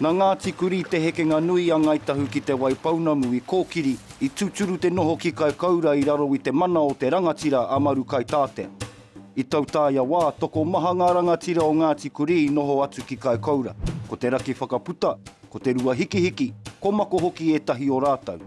Nā Ngāti Kurī te hekenga nui a Ngāi Tahu ki Te Waipounamu i kōkiri, i tūturu te noho ki Kaikoura i raro i te mana o te rangatira a Marukaitātea. I tautaia wā, tokomaha ngā rangatira o Ngāti Kurī i noho atu ki Kaikoura, ko te raki whakaputa, Ko Te Ruahikihiki, ko Mako hoki ētahi o rātou.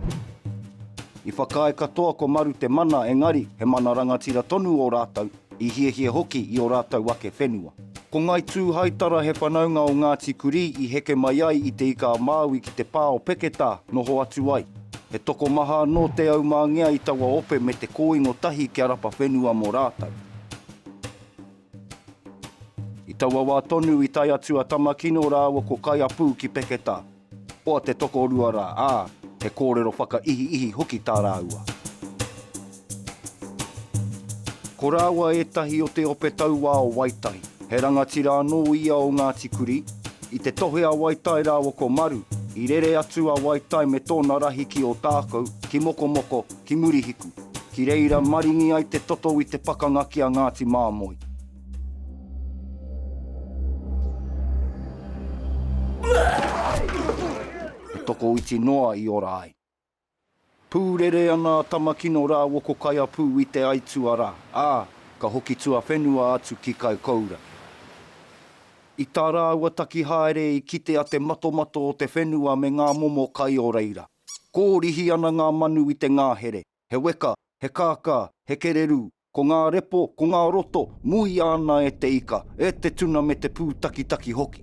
I whakaae katoa ko Maru te mana engari he mana rangatira tonu ō rātou, i hiahia hoki i ō rātou ake whenua. Ko Ngāi Tūhaitara he whanaunga o Ngāti Kurī i heke mai ai i Te Ika-a-Māui ki te pā o Peketā noho atu ai. He tokomaha anō Te Aumāngea i taua ope me te kōingo tahi kia rapa whenua mō rātou. I taua wā tonu i tae atu a Tamakino rāua ko Kaiapū ki Peketā. Oa te tokorua rā, ā, he kōrero whakaihiihi hoki tā rāua. Ko rāua ētahi o te ope tauā o Waitahi. He rangatira anō ia o Ngāti Kurī. I te tohe a Waitai rāua ko Maru, i rere atu a Waitai me tōna rahi ki Ōtākou, ki Mokomoko, ki Murihiku, ki reira maringi ai te toto i te pakanga ki a Ngāti Māmoe. He tokoiti noa i ora ai. Pūrere ana a Tamakino rāua ko Kaiapū i te aituā rā, ā, ka hoki tuawhenua atu ki Kaikoura. I tā rāua taki haere i kite a te matomato o te whenua me ngā momo kai o reira. Kōrihi ana ngā manu i te ngāhere, he weka, he kākā, he kererū, ko ngā repo, ko ngā roto, muia ana e te ika, e te tuna me te pūtakitaki hoki.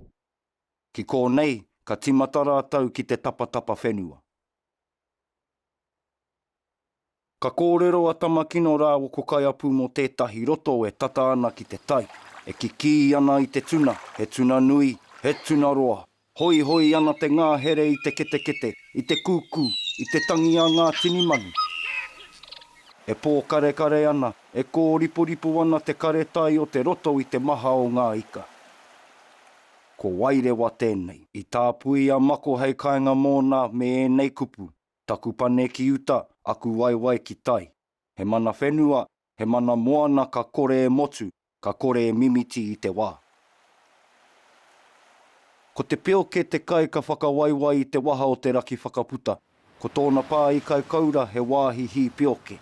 Ki kōnei, ka timata rātou ki te tapatapa whenua. Ka kōrero a Tamakino rāua ko Kaiapu mō tētahi roto e tata ana ki te tai, e kikī ana i te tuna, he tuna nui, he tuna roa. Hoihoi ana te ngāhere i te ketekete, i te kūkū, i te tangi a ngā tini manu. E pōkarekare ana, e kōriporipo ana te kare tai o te roto i te maha o ngā ika. Ko Wairewa tēnei. I tāpui a Mako hei kainga mōna me ēnei kupu. Taku pane ki uta, aku waewae ki tai. He mana whenua, he mana moana ka kore e motu, ka kore e mimiti i te wā. Ko te pioke te kai ka whakawaiwai i te waha o te raki whakaputa. Ko tōna pā i Kaikoura he wāhi hī pioke.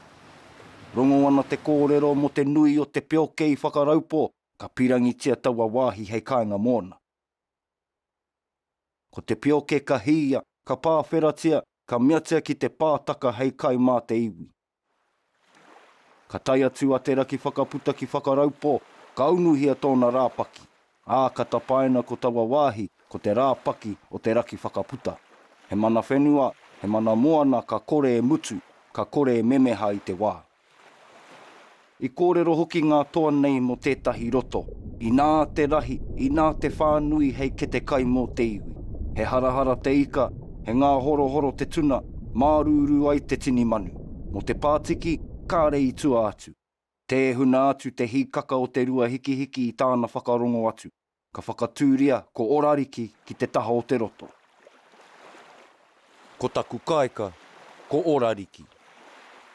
Rongo ana te kōrero mō te nui o te pioke i Whakaraupo ka pirangitia taua wāhi hei kāinga mōna. Ko te pioke ka hīia, ka pāwheratia, ka meatia ki te pātaka hei kai mā te iwi. Ka tae atu a Te Rakiwhakaputa ki Whakaraupō, ka unuhia tōna rāpaki, ā, ka tapaina ko taua wāhi ko te rāpaki o Te Rakiwhakaputa. He mana whenua, he mana moana ka kore e mutu, ka kore e memeha i te wā. I kōrero hoki ngā toa nei mō tētahi roto, inā te rahi, inā te whānui hei kete kai mō te iwi. He harahara te ika, he ngāhorohoro te tuna, mārūrū ai te tini manu. Mō te pātiki, kāre i tua atu. Tēhuna atu te hīkaka o te rua hikihiki i tāna whakarongo atu. Ka whakatūria ko Orariki ki te taha o te roto. Ko taku kāika, ko Orariki.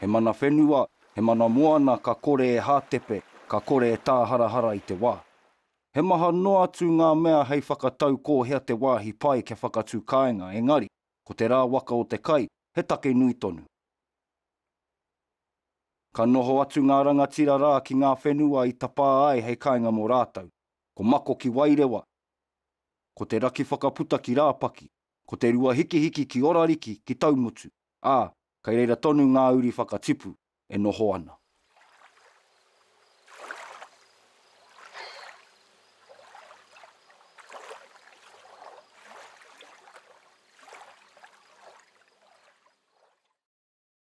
He mana whenua, he mana moana ka kore e hātepe, ka kore e tāharahara i te wā. He maha noa atu ngā mea hei whakatau ko hea te wāhi pai kia whakatū kāinga, engari, ko te rā waka o te kai, he take nui tonu. Ka noho atu ngā rangatira rā ki ngā whenua i tapā ai hei kāinga mō rātou. ko Mako ki Wairewa, ko Te Rakiwhakaputa ki Rāpaki, ko Te Ruahikihiki ki Orariki ki Taumutu, ā, kei reira tonu ngā uri whakatipu e noho ana.